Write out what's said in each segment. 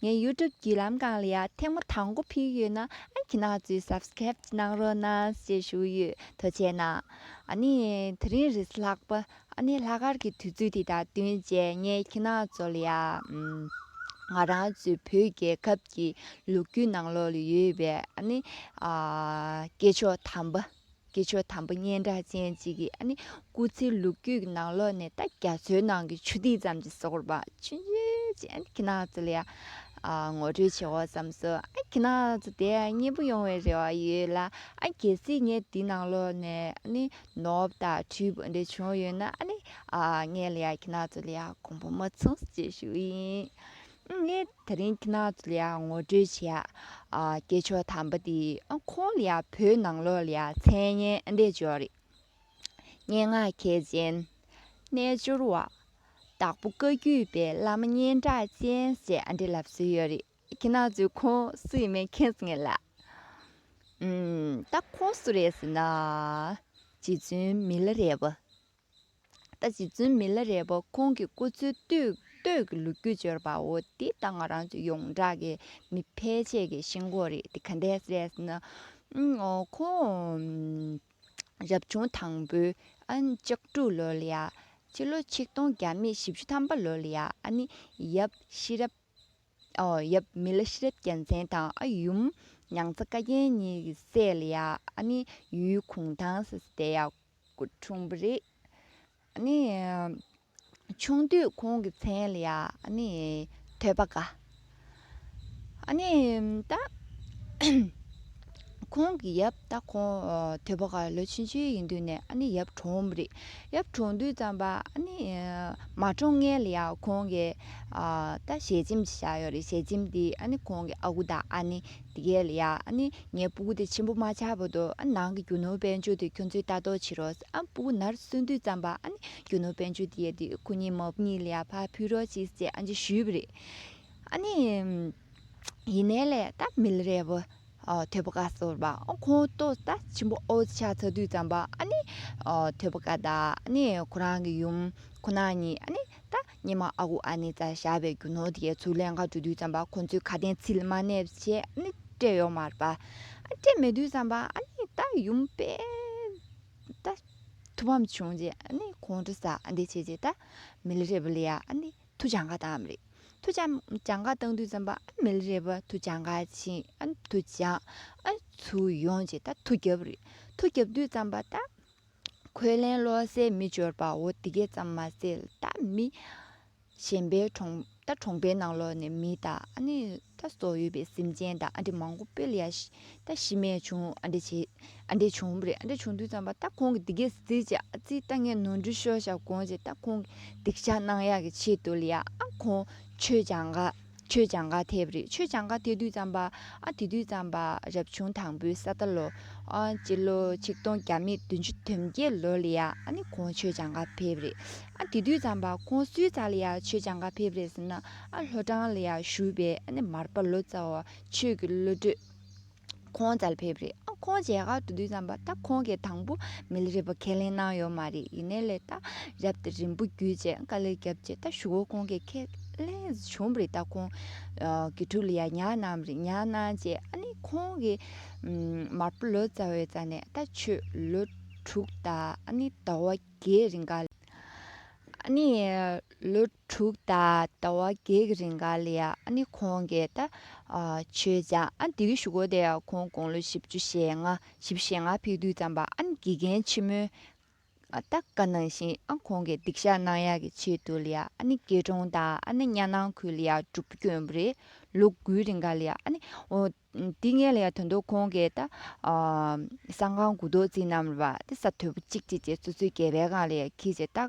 ངའི YouTube བརྒྱུད་ལམ་སྒང་ལ་ཡང་ཐེངས་མ་དང་པོ་ཕུལ་ཡོད་ན་ཨང་ཀི་ནག་ཚོས Subscribe གནང་རོགས་གནང་ཞེས་ཞུ་ཡོད་དོ་བྱས་ན། ཨ་ནི་དེ་རིང་རེས་ལྷག་པ་ཨ་ནི་ལྷག་དཀར་གྱི་དུས་ཚོད་དེ་དང་བསྟུན་རྗེས་ངའི་ཁྱི་ནག་ཚོ་ལ་ཡང། ང་རང་ཚོའི་བོད་རྒྱལ་ཁབ་ཀྱི་ལོ་རྒྱུས་ནང་ལོགས་ལ་ཡོད་པའི་ཨ་ནི་སྐྱེས་མཆོག་དམ་པ། གི་ཆོས་དམ་པ་སྙན་གྲགས་ཅན་གཅིག་གིས་ཨ་ནི་སྐུ་ཚེའི་ལུག་རྒྱུད་ཀྱི་ནང་ལོགས་ནས་ད་རྒྱ་མཚོའི་ནང་གི་ཆུ་ཐིགས་ཙམ་གྱི་སོག་རུ་བཅུ་ཅན་གྱི་ནགས་ཚལ་ལ་ངོ་སྤྲོད་བྱེད་འོག་ཙམ་སུ་ཨ་གྱི་ནགས་ཚལ་དེ་མཉེས་པོ་ཡོང་བའི་རེ་བ་ཡོད་ལ་ཨ་གལ་སྲིད་ངས་དེའི་ནང་ལོགས་ནས་ཨ་ནི་ནོར་དང་འཁྲུལ་པ་འདི་བྱུང་ཡོད་ན་ཨ་ནི་ངས་ལ་ཡ་གྱི་ནགས་ཚལ་ལ་ཡ་གོང་བུ་མ་ཚུགས་ཅེས་ཞུ་ཡིན་ངས་དེ་རིང་གནའ་དུས་ལ་ངོ་སྤྲོད་བྱས། སྐྱེས་མཆོག་དམ་པ་དེ་ཁོང་ལ་བོད་ནང་ལོགས་ལ་མཚན་སྙན་འདེབས་འཇོག་རེད། སྙན་ངག་མཁས་ཅན། རྣལ་འབྱོར་བ། དྭགས་པོ་བཀའ་བརྒྱུད་པའི་བླ་མ་སྙན་གྲགས་ཅན་ཞེས་ཨ་འབྲེ་ལབ་སྲོལ་ཡོད་རེད། གནའ་དུས་ཁོང་སུ་ཡིན་མིན་མཁྱེན་ཟིན་ངེས་ལ། ད་ཁོང་སུ་རེད་ཟེར་ན། རྗེ་བཙུན་མི་ལ་རེད་བ། ལྟ་ཅི་རྫུན་མི་ལ་རས་པོ་ཁོང་གི་སྐུ་ཚེའི་སྟོད་ཀྱི་ལོ་རྒྱུས་བརྗོད་པའོ་འདི་ལྟ་ང་རང་ཚོ་ཡོངས་གྲགས་ཀྱི་མི་ཕལ་ཆེར་གྱི་ཤེས་གོ་རེད་དེ་ག་འདྲས་རེད་ན། ཁོང་རབ་བྱུང་དང་པོའི་ལྕགས་དྲུག་ལོ་ལ་ཡ་སྤྱི་ལོ་ཆིག་སྟོང་བརྒྱ་མེད་བཞི་བཅུ་ཐམ་པ་ལོ་ལ་ཡ་ཨ་ནི་ཡབ་ཤེས་རབ་ཡབ་མི་ལ་ཤེས་རབ་རྒྱལ་མཚན་དང་ཨ་ཡུམ་མྱང་ཚ་བཀའ་རྒྱན་གཉིས་ཀྱི་སྲས་ལ་ཡ་ཨ་ནི་ཡུལ་གུང་ཐང་སི་སི་དེ་ཡ་སྐུ་འཁྲུངས་པ་རེད། ཆུང་དུས་ཁོང་གི་མཚན་ལ་ཐོད་པ་འགའ། ད་ཁོང་གི་ཡབ་ད་ཁོང་ཐོད་པ་འགའ་ལོ་ཆུང་ཆུང་ཡིན་དུས་ནས་ཡབ་གྲོངས་པ་རེད། ཡབ་གྲོངས་དུས་ཙམ་པ་མ་གྲོངས་སྔན་ལ་ཡང་ཁོང་གི་ད་ཞལ་ཆེམས་ཞིག་བཞག་ཡོད་རེད་ཞལ་ཆེམས་དེ་ཁོང་གི་ཨ་ཁུ་དང་ཨ་ནེ་དེ་ཀའི་ལ་ཡ་ནི་ངས་སྤུ་གུ་དེ་ཆེན་པོ་མ་ཆག་པོ་འདུག་ཨ་ནང་གི་རྒྱུ་ནོར་དཔལ་འབྱོར་དེ་ཁྱོད་ཚོས་ལྟ་རྟོག་བྱེད་རོགས་ཨ་སྤུ་གུ་ནར་སོན་དུས་ཙམ་པ་ཨ་ནི་རྒྱུ་ནོར་དཔལ་འབྱོར་དེ་ཡལ་དུས་ཁོ་གཉིས་མོ་གཉིས་ལ་ཡར་ཕར་ཕུད་རོགས་ཅིག་ཅེས་ཨ་མཆི་ཞུས་པ་རེད། ཨ་ནི། ཡིན་ནའི་ལས་ད་མི་ལ་རས་པོ། ཐོད་པ་ཀ་ཟོར་བ་ཁོང་ལྟོས་ད་ཆེན་པོ་ཨོ་ཆག་ཚར་དུས་ཙམ་པ་ཨ་ནི། ཐོད་པ་ཀ་ད་ཨ་ནི་ཁོ་རང་གི་ཡུམ་ཁོ་ན་ཉིད་ཨ་ནི་ད། སྙེ་མ་ཨ་ཁུ་ཨ་ནེ་ཙཱ་ཞྭ་བའི་རྒྱུ་ནོར་དེའི་ཚུར་ལན་འགའ་འགྲོ་དུས་བརྩམས་པ་ཁོ་ཚོས་ཁ་བསྟན་ཚིལ་མ་ནས་བྱས་ནི་སྤྲད་ཡོག་མར་པ་སྤྲད་མེད་དུས་བརྩམས་པ་ཨ་ནེ་ཏཱ་ཡུམ་པས་ད་ཐུ་བམ་བྱུང་རྗེས་ཨ་ནེ་ཁོང་ཁྲོ་ཟ་འདི་བྱས་རྗེས་ད་མལ་རེད་པ་ལ་ཡ་ཨ་ནེ་ཐུ་བྱ་འགའ་བཏང་བམ་རེད་ཐུ་བྱ་བྱ་འགའ་བཏང་དུས་བརྩམས་པ་ཨ་མལ་རེད་པ་ཐུ་བྱ་འགའ་བྱིན་ཨ་ནེ་ཐུ་བྱ་ཨ་ནེ་ཚུར་ཡོང་རྗེས་ད་ཐུ་རྒྱབ་རེད་ཐུ་རྒྱབ་དུས་བརྩམས་པ་ད། གོས་ལེན་བློ་གསལ་མི་འབྱོར་པའོ་འདི་སྐད་ཙམ་མ་ཟེར་ད་མི། གཞན་པའི་གྲོང་ད་གྲོང་པའི་ནང་ལོག་ནས་མི་ད་ཨ་ནི་ད་སོགས་ཡོད་པའི་སེམས་ཅན་ད་ཨ་འདྲེ་མང་པོ་སྤེལ་ཡ་ད་ཤི་རྨས་བྱུང་ཨ་འདྲེ་བྱས་ཨ་འདྲེ་བྱུང་བུ་རེད་ཨ་འདྲེ་བྱུང་དུས་ཙམ་པ་ད་ཁོང་གི་འདི་སྐད་ཟེར་ཅིག་ཨ་ཙི་ད་ངས་ནོར་འཁྲུལ་ཤོར་བཞག་དགོངས་ཅིག་ད་ཁོང་གི་སྡིག་བཤགས་གནང་ཡག་གི་ཆེད་དུ་ལ་ཡ་ཨ་ཁོང་ཆོས་ཀྱང་དགའ། ཆོས་བྱང་ཁ་ཐེབས་རེད་ཆོས་བྱང་ཁ་ཐེ་དུས་ཙམ་པ་ཨ་དེ་དུས་ཙམ་པ་རབ་བྱུང་དང་པོའི་ས་ད་ལོ་ཨ་སྤྱི་ལོ་ཆིག་སྟོང་བརྒྱ་མེད་བདུན་ཅུ་དོན་བརྒྱད་ལོ་ལ་ཡ་ཨ་ནི་ཁོང་ཆོས་བྱང་ཁ་ཕེབས་རེད་ཨ་དེ་དུས་ཙམ་པ་ཁོང་སུའི་རྩ་ལ་ཡ་ཆོས་བྱང་ཁ་ཕེབས་རེད་ཟེར་ན་ཨ་ལྷོ་བྲང་ལ་ཡ་བཞུགས་པའི་ཨ་ནི་མར་པ་ལོ་ཙཱ་བ་ཆོས་ཀྱི་བློ་གྲོས། ཁོང་ཙལ་ཕེབས་རེད་ཨ་ཁོང་ཇའི་ཁ་དུ་དུས་ཙམ་པ་ད་ཁོང་གི་དང་པོ་མི་ལ་རེད་པ་ཁས་ལེན་གནང་ཡོད་མ་རེད་ཡིན་ནའི་ལས་ད་རབ་ཏུ་རིང་པོ་བརྒྱུད་རྗེས་དཀའ་ལས་བརྒྱབ་རྗེས་ད་ཞུ་བོ་ཁོང་གི་ཁས་ལེན་བྱུང་རེད་ད་ཁོང་གི་ཕྲུག་ལ་ཡང་ཉར་གནང་རེད་ཉར་གནང་རྗེས་ཨ་ནི་ཁོང་གི་མར་པོ་ལོ་ཙཱ་བའི་རྩ་ནས་ད་ཆོས་ལོ་དྲུག་ད་ཨ་ནི་ཟླ་བ་བརྒྱད་རིང་ག་ལ་ཨ་ནི་ལོ་དྲུག་ད་ད་བ་བགེགས་རིང་ག་ལ་ཡ་ཨ་ནི་ཁོང་གེ་ད་ཆོས་ཅག་ཨ་འདི་གི་བཞུགས་སྒོ་དེ་ཁོང་དགུང་ལོ་བཞི་བཅུ་ཞེ་ལྔ་བཞི་བཞེ་ལྔ་ཕེག་དུས་ཙམ་པ་ཨ་ནི་དགེ་རྒན་ཆེན་མོའི་ད་ག་ནང་བཞིན་ཨ་ཁོང་གེ་སྡིག་བཤགས་གནང་ཡག་གི་ཆེད་དུ་ལ་ཡ་ཨ་ནི་དགེ་གྲོང་ད་ཨ་ནི་གཉའ་ནང་ཁུལ་ལ་ཡ་སྒྲུབ་བསྐྱོན་པོ་རེད་ལོ་དགུའི་རིང་ག་ལ་ཡ་ཨ་ནི་འོ་འདི་ངས་ལ་ཡ་དོན་དུ་ཁོང་གེ་ད་སང་ཁང་དགུ་རྡོ་རྩིག་རྣམས་ར་བ་ད་ས་དོད་པོ་གཅིག་གཅིག་བཅས་ཚོ་ཚོད་བརྒྱད་པའི་གང་ལ་ཡ་ཁིས་བྱེད་ད།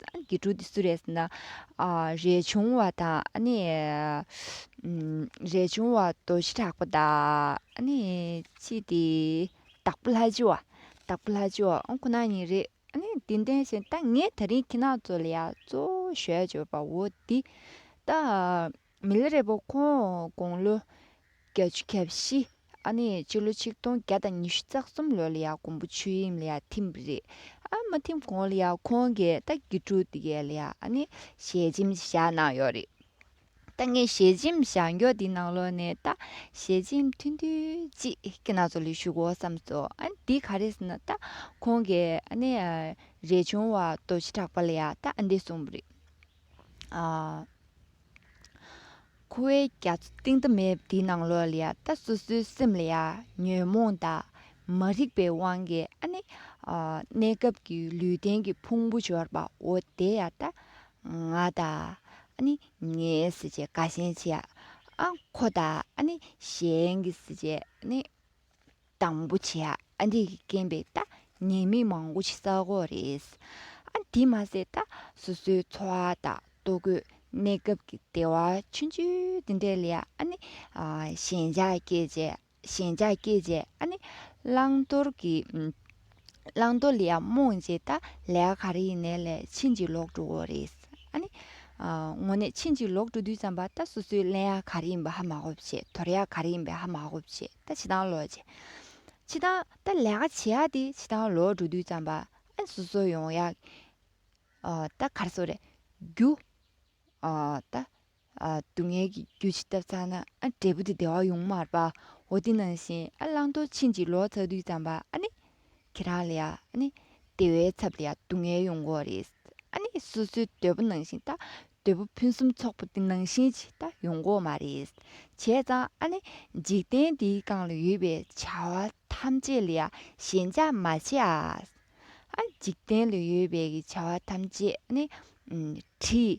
ཏང་གི་ཀྲུའུ་ཏི་སུ་རེད་ཟེར་ན། རས་ཆུང་བ་དང། རས་ཆུང་བ་དོ་ཤི་དྲག་པོ་དང། ཅི་དེ། དྭགས་པོ་ལྷ་ཆེ་བ། དྭགས་པོ་ལྷ་ཆེ་བ་ཁོ་ན་ཉིད་རེད། དེ་འདྲའི་ཞིག་ད་ངས་ད་རིང་ཁྱེད་རང་ཚོ་ལ་ཡང་གཙོ་བོ་ཞལ་བརྗོད་པ་འོ་དེ། ད། མི་ལ་རས་པོ་ཁོང་དགུང་ལོ་གྱ་བཅུ་གྱ་བཞི། ཨ་ནེ་སྤྱི་ལོ་ཆིག་སྟོང་བརྒྱ་དང་ཉི་ཤུ་རྩ་གསུམ་ལོ་ལ་ཡང་གོང་བུ་ཆོས་དབྱིངས་ལ་ཡང་ཐིམ་པ་རེད། ཨ་མ་ཐིམ་གོང་ལ་ཡང་ཁོང་གིས་རྟ་རྒྱུག་དྲུག་དེ་གའི་ལ་ཡང་ཨ་ནེ་ཞལ་ཆེམས་བཞག་གནང་ཡོད་རེད། ད་ངས་ཞལ་ཆེམས་བཞག་མགྱོགས་དེའི་ནང་ལོགས་ནས་རྟ་ཞལ་ཆེམས་མཐུན་དུས་གཅིག་གི་ནང་ཚོ་ལས་ཞུགས་འོག་བསམ་སོ། དེ་ག་རེ་ཟེར་ན་རྟ་ཁོང་གིས་ཨ་ནེ་རས་ཆུང་བ་རྡོ་རྗེ་གྲགས་པ་ལ་ཡང་རྟ་ཨ་འདེ་གསུངས་པ་རེད། ཁུ་བའི་རྒྱ་མཚོ་གཏིང་མཐའ་མེད་དེའི་ནང་ལོགས་ལ་ཡང་ད་སོ་སོའི་སེམས་ལ་ཡང་ཉོན་མོངས་དང་མ་རིག་པའི་དབང་གིས་ཨ་ནི་གནས་སྐབས་ཀྱི་ལུས་རྟེན་གྱི་ཕུང་པོ་འབྱོར་པའོ་དེ་ཡང་ད་ང་དང་ཨ་ནི་ངའི་ཟེར་བྱའི་དགའ་ཞེན་ཆེ་ཨ་ཁོ་དང་ཨ་ནི་གཞན་གྱི་ཟེར་བྱའི་ཨ་ནི་དང་པོ་བྱས་ཨ་འདི་གི་རྐན་པའི་ལྟ་ཉན་མི་མང་པོ་ཞིག་ས་གོ་རེད། ཨ་འདི་མ་ཟད་ལྟ་སོ་སོའི་འཚོ་བ་དང་ལྟོ་གོས་གནས་སྐབས་ཀྱི་བདེ་བ་ཆུང་ཆུང་དེ་འདྲས་ལས་ཨ་ནི་ཞེན་ཆགས་སྐྱེས་རྗེས་ཞེན་ཆགས་སྐྱེས་རྗེས་ཨ་ནི་བླང་དོར་གྱི་བླང་དོར་ལ་ཡང་རྨོངས་རྗེས་ལྟ་ལས་ག་རེ་ཡིན་ནའི་ལས་ཕྱིན་ཅི་ལོག་འགྲོ་གོ་རེད། ཨ་ནི་དངོས་གནས་ཕྱིན་ཅི་ལོག་འགྲོ་དུས་ཙམ་པ་ལྟ་སོ་སོའི་ལན་ཡང་ག་རེ་ཡིན་པ་ཧ་མ་གོ་བྱེད་དོར་ཡང་ག་རེ་ཡིན་པའི་ཧ་མ་གོ་བྱེད། ད་བྱེད་སྟངས་ལོག། བྱེད་སྟངས་ད་ལས་ཀ་བྱེད་ཡག་དེ་བྱེད་སྟངས་ལོག་འགྲོ་དུས་ཙམ་པ་ཨེ་སོ་སོ་ཡོང་ཡག། ད་གར་སོ་རེད་རྒྱུ། ད་སྡུག་བསྔལ་གྱི་རྒྱུ་བྱེད་ཐབས་ཚང་ན་ཨ་འབྲས་བུ་དེ་བདེ་བ་ཡོང་མར་པའོ་དེ་ནང་བཞིན་ཨ་བླང་དོར་ཕྱིན་ཅི་ལོག་ཚར་དུས་ཙམ་པ་ཨ་ནི། ཁྱེད་རང་ལ་ཡང་ནི་དེ་བས་ཚབ་ལ་ཡང་སྡུག་བསྔལ་ཡོང་གོ་རེད། ཨ་ནི་སོ་སོའི་དོད་པོ་ནང་བཞིན་ད་དོད་པོ་ཕུན་སུམ་ཚོགས་པོ་དེ་ནང་བཞིན་ཅིག་ད་ཡོང་གོ་མ་རེད། བྱས་ཙང་ཨ་ནི་འཇིག་རྟེན་འདིའི་སྒང་ལ་ཡོད་པའི་བྱ་བ་ཐམས་ཅད་ལ་ཡང་ཞེན་ཆགས་མ་བྱེད་ཨ། འཇིག་རྟེན་ལ་ཡོད་པའི་བྱ་བ་ཐམས་ཅད་ནི་བྲིས།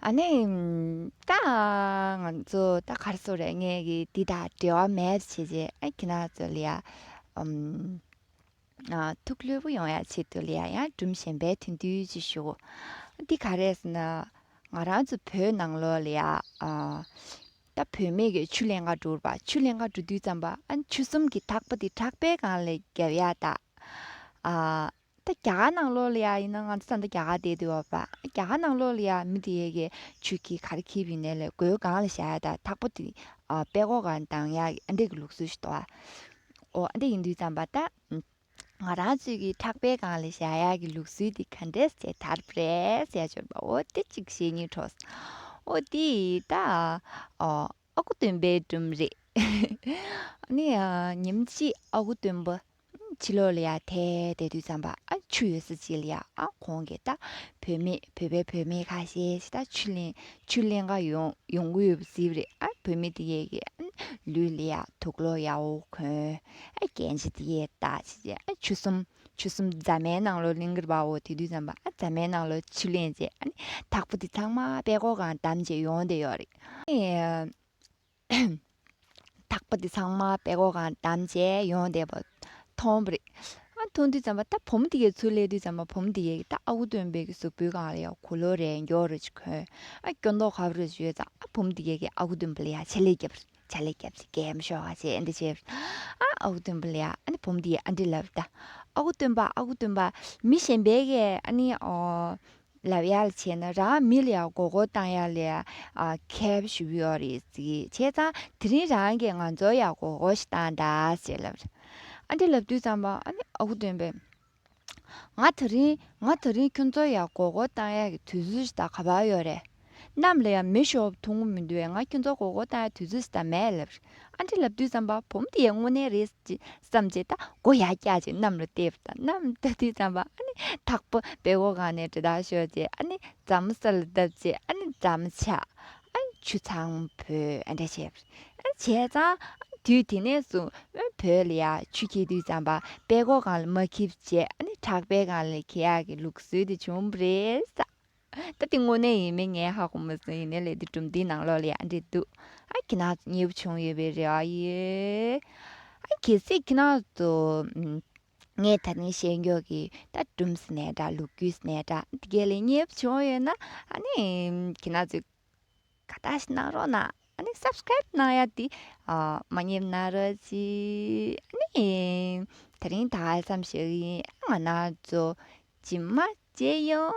ཨ་ནི། ད་ང་ཚོ་ད་གར་སོང་རེད་ངས་ཀྱི་འདི་དང་འབྲེལ་བ་མེད་ཟེར་བྱས་རྗེས་ཨ་ཁྱེད་རང་ཚོ་ལ་ཡ། ཐུགས་ལྷོད་པོ་ཡོང་ཡ་བྱེད་དུ་ལ་ཡ་ཡང་སྦྲུམ་ཞན་པས་དུས་འདུལ་ཅིག་ཞུ། འདི་ག་རེད་ཟེར་ན། ང་རང་ཚོ་བོད་ནང་ལོ་ལ་ཡ། ད་བུད་མེད་ཀྱི་ཆུ་ལེན་ཁ་འགྲོ་རུ་པ་ཆུ་ལེན་ཁ་འགྲོ་དུས་ཙམ་པ་ཨ་ཆུ་གསུམ་གྱི་ཐག་པ་འདི་ཁྲག་པའི་སྒང་ལ་བརྒྱབ་ཡ་ད། ད་རྒྱ་གར་ནང་ལོག་ལ་ཡ་ཡིན་ན་ང་ཚོ་ད་ལྟ་རྒྱ་གར་བསྡད་འདུག་བ་པ་རྒྱ་གར་ནང་ལོག་ལ་ཡ་མི་དེ་ཡས་ཀྱི་ཆུ་ཁྱི་ག་རེ་ཁྱི་བི་ནས་ལས་སྒོའི་སྒང་ལ་བཞག་ཡ་ད་ཐག་པོ་དེ་པད་གོག་ག་རེ་འདང་ཡ་ཨ་འདེ་གི་ལུགས་སྲོལ་ཞིག་འདུག་བ་ཨ་འདེ་ཡིན་དུས་ཙམ་པ་ད་ང་རང་ཚོས་ཀྱི་ཕྲག་པའི་སྒང་ལ་བཞག་ཡ་གི་ལུགས་སྲོལ་དེ་ག་འདྲས་ཟེ་དར་བེས་ཡ་འབྱོར་པ་འོ་དེ་གཅིག་བཞེས་གཉིས་གྲོགས་འོ་དེ་ད་ཨ་ཁུ་སྟོན་པའི་སྒྲོམ་རེད་ཨ་ནི་ཉིན་གཅིག་ཨ་ཁུ་སྟོན་པ་ཕྱི་ལོགས་ལ་ཡ་ཐའི་དའི་དུས་ཙམ་པ་ཆུ་ཡོད་ས་ཅིག་ལ་ཡ་གོང་གི་ད་བོད་མི་བོད་པའི་བུད་མེད་ཁ་ཤས་ཤིག་ད་ཆུ་ལེན་ཆུ་ལེན་ག་ཡོང་ཡོང་གི་ཡོད་པ་ཟིག་རེད་ཨ་བོད་མི་དེ་ཡས་ཀྱི་ལུས་ལ་ཡ་དུག་ལོག་ཡ་འོ་གོན་ཨ་རྒན་ཆེ་དེ་ཡས་ད་ཆི་ཆི་ཨ་ཆུ་གསུམ་ཆུ་གསུམ་རྫ་མའི་ནང་ལོགས་ལིང་གིར་བ་འོ་དེ་དུས་ཙམ་པ་ཨ་རྫ་མའི་ནང་ལོགས་ཆུ་ལེན་རྗེས་ཨ་ནི་དྭགས་པོ་དེ་ཚང་མ་པད་གོག་གང་བདམས་རྗེས་ཡོང་བསྡད་ཡོད་རེད། དག་པ་དེ་ཚང་མ་པད་གོག་གང་བསྡམས་རྗེས་ཡོང་བསྡད་པ་མཐོང་བ་རེད། མཐོང་དུས་ཙམ་པོ་ད་བུ་མོ་དེ་གའི་ཚུར་སླེབས་དུས་ཙམ་པོ་བུ་མོ་དེ་གའི་ད་ཨ་ཁུ་སྟོན་པའི་གཟུགས་པོའི་གང་ལ་ཡང་གོ་ལོ་རེ་མགྱོགས་རེ་ཅིག་གོན། ཨ་སྐྱོ་མདོག་ཁ་བོ་རེ་ཞིག་ཡོད་ཙང་ཨ་བུ་མོ་དེ་གའི་ཨ་ཁུ་སྟོན་པོ་ལ་ཡང་ཆ་ལེ་རྒྱབ་རེ་ཆ་ལེ་རྒྱབ་ཅིག་གས་མི་ཤོག་ཨ་ཅེས་འདི་བྱས། ཨ་ཨ་ཁུ་སྟོན་པོ་ལ་ཡང་ཨ་ནི་བུ་མོ་དེ་གའི་ཨ་འདྲེ་ལབ་ད། ཨ་ཁུ་སྟོན་པ་ཨ་ཁུ་སྟོན་པ་མི་གཞན་པའི་གས་ཨ་ནི་ལབ་ཡག་ལ་བྱས་ན་རང་མི་ལ་ཡང་མགོ་སྐོར་བཏང་ཡག་ལས་ཁེབས་ཞུ་ཡག་རེད་ཟེར་བྱས་ཙང་དེ་རིང་རང་གིས་ང་ཚོར་ཡང་མགོ་སྐོར་ཞིག་བཏང་གདའ་ཟེར་ལབ་རེད། ཨ་འདྲེ་ལབ་དུས་ཙམ་པ་ཨ་ནི་ཨ་ཁུ་སྟོན་པས། ང་ད་རིང་ང་ད་རིང་ཁྱོད་ཚོར་ཡང་མགོ་སྐོར་བཏང་ཡག་གི་དུས་ཚོད་ཞིག་ད་ག་བར་ཡོད་རེད། རྣམས་ལ་ཡང་མི་ཤོབ་ཐུང་ངུ་མི་འདུག་བས་ང་ཁྱོད་ཚོ་གོ་གོ་ལྟ་དུས་ཚོད་ཟད་མེད་ལབ། ཨ་འདྲེ་ལབ་དུས་བསམ་པ་བུམ་དེ་ཡང་དངོས་གནས་རེད་བསམ་རྗེས་ད་གོ་ཡག་སྐྱག་ཅིག་གནམ་ལ་བཏེགས་པ་དང་གནམ་ལྟ་དུས་བསམ་པ་ཨ་ནི་ཐག་པ་བེ་གོ་གང་ནས་དྲི་དག་ཤོར་རྗེས་ཨ་ནི་རྫ་མ་ས་ལ་བརྡབས་རྗེས་ཨ་ནི་རྫ་མ་ཆག་ཨ་ནི་ཆུ་ཚང་བོས་ཨ་འདྲེ་བྱས། བྱས་ཙང་ཨ་ནི་དུས་དེ་ནས་བཟུང་དབོན་བོད་ལ་ཡང་ཆུ་འཁྱིལ་དུས་བསམ་པ་བེ་གོ་གང་ལ་མ་འཁྱིལ་བྱས་ཨ་ནི་བྲག་བེ་གང་ལ་འཁྱིལ་ཡག་གི་ལུགས་སྲོལ་དེ་བྱུང་བ་རེད་བསམ། ད་དེ་དངོས་གནས་ཡིན་མིན་ངས་ཧ་གོ་མི་སྲིད་ཡིན་ནའི་ལས་དེ་གྲུབ་འདིའི་ནང་ལོགས་ལ་ཡང་འབྲེལ་འདུག་ཨ་ཁྱི་ནག་གཉིས་པོ་བྱུང་ཡོད་པའི་རེ་བ་ཡོད། ཨ་གྱི་སྲིད་ཁྱི་ནག་ཏུ། ངས་ད་ནི་ཤེས་མགྱོགས་ཀྱི་ད་སྦྲུམ་སི་ནས་འདྲ་ལུག་ཁྱུ་སི་ནས་འདྲ་དེ་ག་ལས་གཉིས་པོ་བྱུང་ཡོད་ན་ཨ་ནི་ཁྱི་ནག་ཚོས་ཁ་བརྡ་ཞིག་གནང་རོགས་གནང་ཨ་ནི Subscribe གནང་ཡ་དེ་མ་ཉེས་གནང་རོགས་གྱིས་ཨ་ནི་དེ་རིང་ད་ཧ་སམ་ཞིག་ཡིན་ཨ་ང་ནག་ཚོ་ཇི་མ་ཇི་ཡོང།